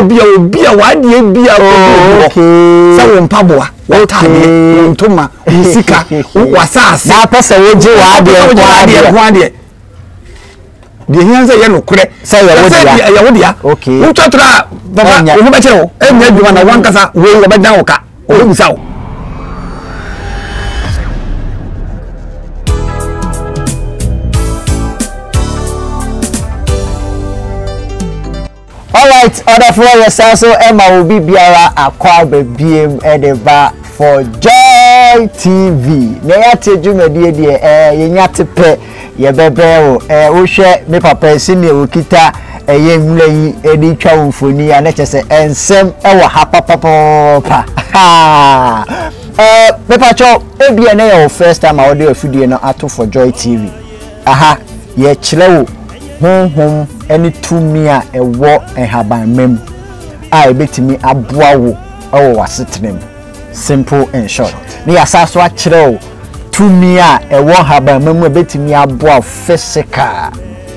Ebia obi a w'adeɛ bi a ɔbɛbi wɔ sɛ wo mpaboa w'ataadeɛ wo ntoma wo sika w'asaase. na apɛ sɛ wogye w'adeɛ nko adeɛ nko adeɛ deɛ hia sɛ yɛ nokorɛ sɛ yɛ wo dea wotwa tra a baba wo ho bɛkyerɛ wo ɛnyɛ adwuma na wankasa wei wɔbɛdan wo ka wɔbɛbisa wo Alright ɔdɔfoɔ yɛsan so ma wo bibiara akɔ aba biem de ba for joy tv na yɛate dwumadie deɛ ɛɛ yɛnya te pɛ yɛbɛbrɛ wo ɛɛ wohwɛ me papa ɛsi neɛ wɔkita ɛyɛ nwura yi de twa wo mfoni a na kyɛ sɛ ɛnsɛm ɛwɔ ha papapapa haa ɛɛ mepatwɔ ebia na yɛ wo first time a wɔde afidie no ato for joy tv Ɛha, yɛrekyerɛ wo honhom ne tumi a ɛwɔ nhabamma mu a ebetumi aboa wo wɔ w'asetena mu, simple and short. Na yɛasan nso akyerɛ wo tumi a ɛwɔ nhabamma mu a ebetumi aboa wo physical,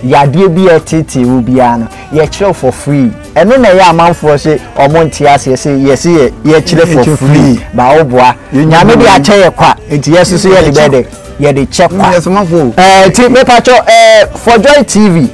yadeɛ bi a ɛreteetee wo biara no, yɛrekyerɛ wo for free. Ɛno na ɛyɛ amanfoɔ se wɔnte aseɛ se yɛse yɛkyerɛ for free, but woboa. Nyame de akyɛ yɛ kwa, nti yɛn nso so yɛde bɛyɛ dɛ? yɛde kyɛ kwa ɛɛ ti mepatwɔ ɛɛ for joy tv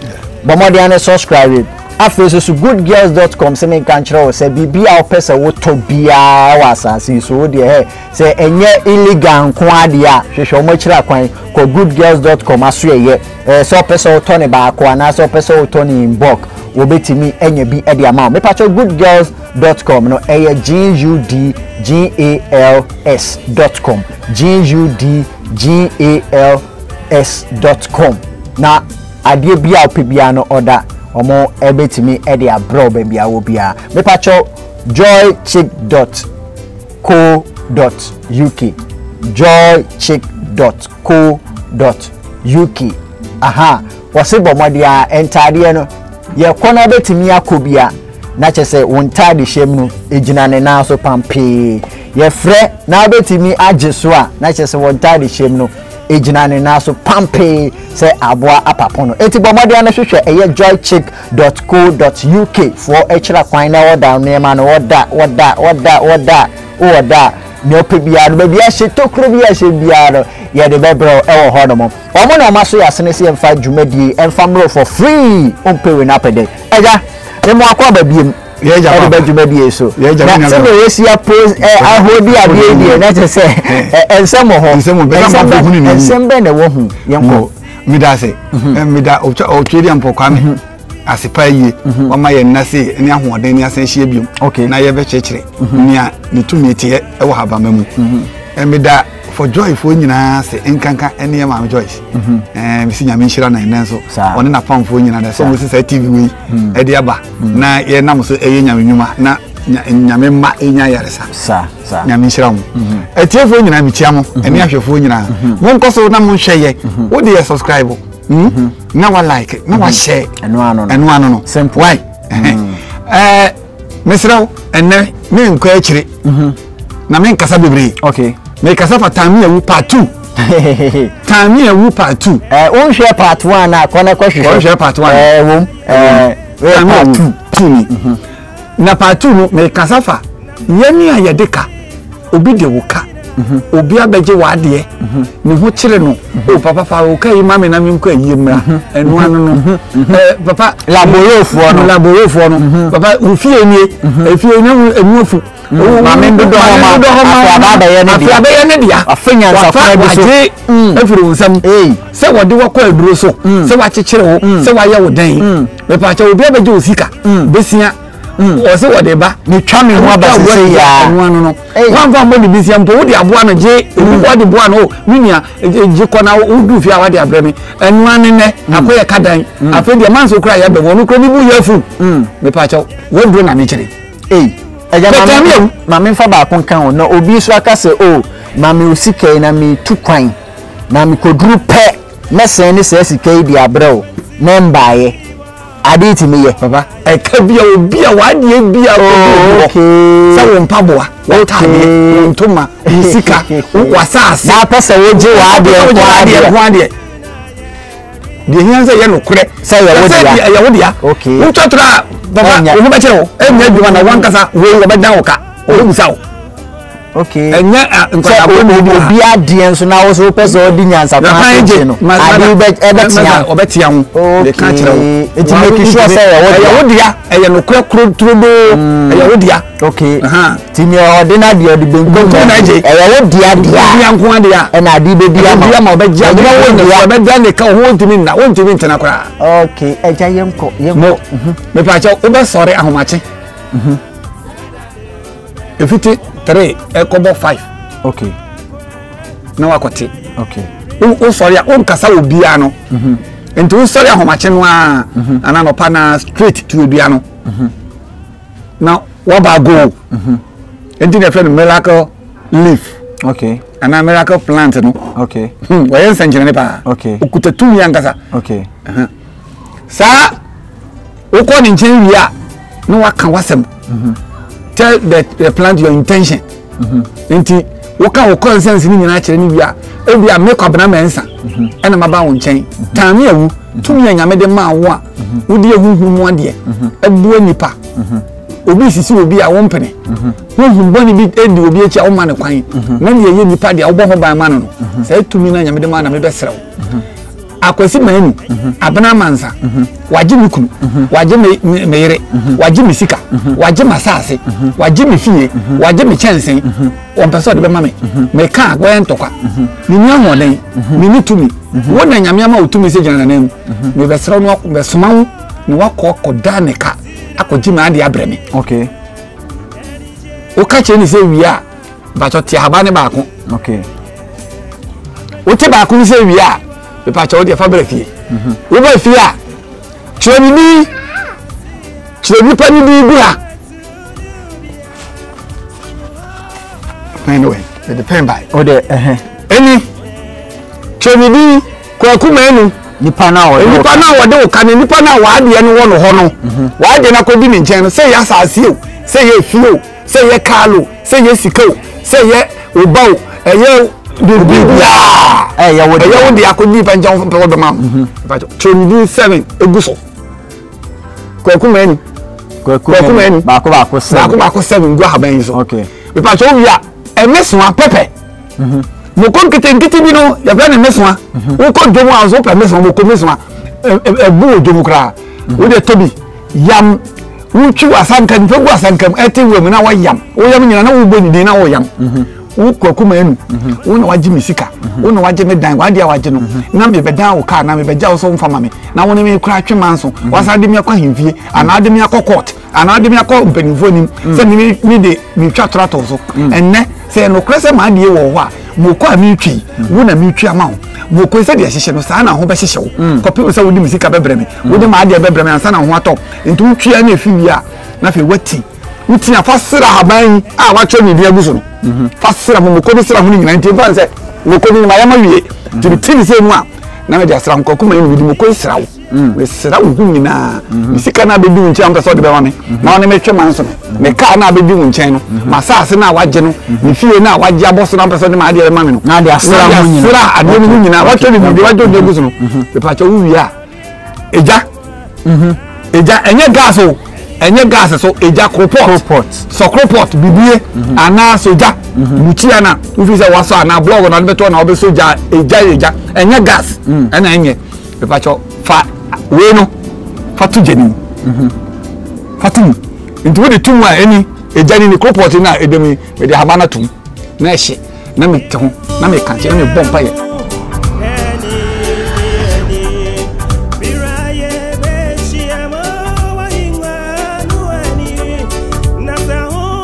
bɔmɔden ane subscribe afei so so goodgirls.com sɛ ne nka nkyerɛ wo sɛ biribi a wopɛ sɛ wotɔ biara wɔ asase yi so wo deɛ hɛ sɛ ɛnyɛ illegal nko adeɛ a hwehwɛ wɔn akyiri akwan kɔ goodgirls.com aso ɛyɛ ɛɛ sɛ wopɛ sɛ wotɔ ne baako anaasɛ wopɛ sɛ wotɔ ne in bulk wɔbɛtumi anya bi de ama wo mepatwɔ goodgirls.com no ɛyɛ g u d g a l s.com GUDGALS dot com na adeɛ biaa a wopɛ biaa no order ɔmo bɛtumi de abrɛw baabi a wowɔ biaa. Mepakyɛw joychick dot co dot uk joychick dot co dot uk ahaa wɔse bɔ mmɔden aa ntaadeɛ no yɛkɔ no a wobɛtumi akɔ biaa. na kyɛ sɛ wo ntadehyɛm no gyina ne nan so pampee. Yɛfrɛ na wobɛtumi agye so a, na kyɛ sɛ wo ntadehyɛm no gyina ne nan so pampee sɛ aboa apapo no. Enti bɔ mmɔden no hwehwɛ ɛyɛ joychick.co.uk foɔ akyira kwan na wɔda nneɛma no wɔda wɔda wɔda wɔda wɔda nea ɔpɛ biara no baabi ahyɛ tokuro bi ahyɛ biara no yɛde bɛbrɛ ɛwɔ hɔ nom. Wɔn na wɔaso yɛn asene sɛ yɛmfa dwumadie yi mfa mmrɛ wo for free, wompɛ wei no apɛ dɛn? Agya, me mo akɔ aba biom ɛde ba dwumadie yi so. Na sɛdeɛ yɛsi apo ahodi adeɛ yi deɛ, na kyerɛ sɛ ɛnsɛm wɔ hɔ. Nsɛm bɛn na ɛwɔ ho? Yɛnkɔ. Meda ase. Meda ɔtwɛdi ampɔ kwame. ase paa yie mhm. wama yɛn nna se ne ahoɔden ne asan ahyia biom na yɛbɛkyerɛkyerɛ mhm. nea ne tumi teɛ wɔ habama mu mhm. meda for joy foɔ nyinaa se nkanka ɛne yɛ maame joyce mhm. ɛɛ mesi nyame nhyira na ɛnɛ nso ɔne na pam foɔ nyinaa dɛ sɛ ɔmo sisa tv wei mhm. ɛde aba mhm. na yɛ nam so ɛyɛ nyame nnwuma na nyame mma ɛnya yaresa nyame nhyira mo atiefoɔ nyinaa mekyia mo ɛne ahwɛfoɔ nyinaa monkɔ so na monhwɛ yɛ wode yɛ subscribe hmm? na wa like na wa share ɛno ano no why ɛɛ mesrɛ wo ɛnnɛ menkɔ akyire mhm. na menkasa bebree okay. mekasa fa tame awu part two tame awu part two eh, wonhwɛ part one a kɔ na kɔhwehwɛ part one eh, wom eh, tame awu two ni mhm. na part two no mekasa fa yɛne a yɛde ka obi de wo ka obi abɛgye w'adeɛ ne ho kyerɛ no o papa fa o ka yi ma me na me nkɔ ayie mmra ɛno ano no ɛɛ papa laborofoɔ no laborofoɔ no papa ofie nie efie ne mu emu afu maame ndodɔ hɔ ma afei abɛyɛ ne dea afei abɛyɛ ne dea afei nyansafo bi so wagye efiri wo nsam sɛ wɔde wakɔ aduro so sɛ wakyekyere wo sɛ wayɛ wo dɛn mepaakyɛ obi abɛgye osika besia. Mm. wɔ se wɔde ba metwa me ho aba sese yaa ɛno ano no wanfa mbɔ ne bi sia mpo wode aboa no gye ebi mm. wɔde boa no o oh, me nua e, e, gye kɔ na wodu fie a wade abrɛ me ɛno ano nɛ mm. akɔyɛ ka dan afei deɛ manso kora yɛ bɛn wɔn kora ne bu yɛ afu mepa kyɛw wɔduro na mekyere ɛgya maame maame nfa baako nka ho na obi nso aka sɛ o oh, maame osi kɛyi na mi tu kwan na mi koduru pɛ mɛsɛn ne sɛ sika yi di abrɛ o na mbaayɛ. Ade yi tumi yɛ. Papa. Ɛka bia obi a w'adeɛ bia oh, obi obi hɔ. Sɛ wo mpaboa, w'ataadeɛ, wo ntoma, wo sika, w'asaase. Na apɛ sɛ wogye w'adeɛ ho adeɛ. Ho adeɛ. Deɛ hia sɛ yɛ nokorɛ. Sɛ yɛ wo dea. Yɛ wo dea. Wotwa tora a, papa, wo ho bɛkyerɛ wo. Ɛnyɛ adwuma na wankasa wei wɔbɛdan wo ka. Wɔbɛbusa wo. okay ɛnyɛ nkwadaa bɔ mu bi obi adeɛ nso na woso pɛ sɛ ɔdi nyansa kwan so gye no adeɛ bɛ ɛbɛtia ho ɔbɛtia ho de ka kyerɛ wo eti make sure sɛ ɛyɛ wo dea ɛyɛ wo dea ɛyɛ no kura kuro turo doo ɛyɛ wo dea okay ti nea ɔde na deɛ ɔde benkum na ɛgye ɛyɛ wo dea dea dea nko adea ɛna adeɛ bɛ di ama ɛbɛdi ama ɔbɛgye ama ɛbɛdi wo dea ɔbɛgye ne ka ho ntumi nna wo ntumi ntena koraa okay ɛgya yɛn kɔ yɛn kɔ mepɛ akyɛ wobɛsɔre ahomakye efiti three ɛkɔbɔ five. okay. na wakɔte. okay. wosɔre a wonkasa wɔ biara no. Mhm. nti wosɔre ahomakye no a mhm. anaa nɔpa na straight to adua no mhm. na waba goal nti na ɛfrɛ no miracle leaf. okay. anaa miracle plant no. okay. Hmm, wɔyɛ nsɛnkyerɛnne paa. okay. okuta tumi ankasa. okay. Uh -huh. saa wokɔ ne nkyɛn wie a na waka wasɛm mhm. tell the the plant your intention mhm. nti woka wo consent ne nyinaa kyerɛ ne wie a ebi a mekɔ abena mɛnsa mhm. ɛna ma ba wo nkyɛn taame awu tumi a nyame de maa wo a wode ehuhu mu adeɛ ɛboa nipa obi sisi obi a wompene honhom bɔne bi di obi akyi a woma ne kwan na deɛ ɛyɛ nipa deɛ wobɔ ho ban ma no no saa tumi no a nyame de maa na mebɛserɛ wo Akwasi Manu, Abena Amansa, wagye me kunu, wagye me me yere, wagye me sika, wagye m'asaase, wagye me fie, wagye me kyɛnsen, wɔmpɛ sɛ ɔde bɛma me. Meka a, wɔyɛ ntɔkwa. Menni ahoɔden, menni tumi. Wo na Nyame ama wo tumi sɛ gyina n'anan mu. Mebɛsrɛ wo na mɛsoma wo na wakɔ akɔda ne ka akɔgye m'ade abrɛ me. Okay. Woka kyerɛ ne sɛ wie a, mpatsɔ te ahaban ne baako okay wote baako no sɛ wie a mpatsɔ wo deɛ fa bra fie mhm. woba fie a kyerɛ ne din kyerɛ nipa ne din gu ha pɛn ne wɛn yɛde pɛn bae o deɛ ɛhɛn ɛni kyerɛ ne din kwaku mɛnu nipa na wɔde nipa na wɔde wo ka ne nipa na wɔadeɛ no wɔ no hɔ no mhm. wɔadeɛ no akɔdi ne nkyɛn no sɛ yɛ asase o sɛ yɛ efie o Sɛ ɛyɛ car loan, sɛ ɛyɛ sika o, sɛ ɛyɛ wo ba o, ɛyɛ biribi biara ɛyɛ wo de akɔ di pɛnkyɛn wo pɛ wɔbɛma wo kyerɛ ne din seven egu so kwaku mɛni kwaku mɛni baako baako seven baako baako seven gu ahaban yi so mepa kyɛw wi a ɛmɛsoa pɛpɛ moko nketenkete bi no yɛfrɛ ne mɛsoa wokɔ dwom a nso wopɛ mɛsoa moko mɛsoa ɛbu wɔ dwom koraa wode tɔ bi Yam, Wotwiw asanka, nipa gu asanka mu, ɛte wɔ mu na wɔyam. Woyam nyina na wobɔ ne din na woyam. Mhm. Wo kwaku ma enu. Mhm. Wo na wagye me sika. Mhm. Wo na wagye me dan. Wade a wagye no. Na mebɛdan wo kaa na mebɛgya wo so mfa ma me. Na wo ne me kora atwe manso. Wasan de me akɔ ahemfie anaa de me akɔ court anaa de me akɔ mpanimfoɔ anim sɛ me de metwa torato so. Ɛnnɛ Sɛ ɛyɛ nokorɛ sɛ m'adeɛ wɔ wo hɔ a, mooko a meretwa yi, wo na meretwa ama wo. Mooko yi, sɛdeɛ ɛhyehyɛ no, saa ara na ho bɛhyehyɛ wo, kɔpem sɛ wode me sika bɛbrɛ me, wode m'adeɛ bɛbrɛ me ansa na ho atɔ wo. Enti wotwe ara na ɛfiri wie a, na afei woati. Wo ti a, fa sra ahaban yi a wɔatwerɛ me din agu so no. Fa sra mo mooko no, sra ho no nyinaa. Enti ɛmfa ho sɛ mooko no, mayam awie, enti mete ne sɛ mu a, na mede asra ho. Kwaku Manyɛ na mede mooko yi sra wo. mm. mesra wo ho nyinaa mm-hmm. me sika no abɛdi wo nkyɛn mpɛ sɛ wode bɛma me mm-hmm. na wone metwe ma nso no mm-hmm. me kaa no abɛdi wo nkyɛn no masaase no a wagye no me fie no a wagye abɔ so no mpɛ sɛ wode maadeɛ bɛma me no na adeɛ asra adeɛ no ho nyinaa watwa ne biribi wagye ɔde agu so no mepakyɛ wo wie a ɛgya ɛgya ɛnyɛ gas o ɛnyɛ gas so ɛgya kropɔt sɔ kropɔt bibie anaa so gya mukyia na wofi sɛ wasɔ anaa blɔg na wode bɛtɔ na wobɛsɔ gya ɛgya ɛgya ɛnyɛ gas ɛna ɛnyɛ mepakyɛ fa wei no fa to gya no mu mhm. fa to mu nti wode to mu a ɛni ɛgya no ni koropɔt no a ɛdam yi mede ahaba no atom na ɛhye na mete ho na meka nkyɛ na mebɔ mpayɛ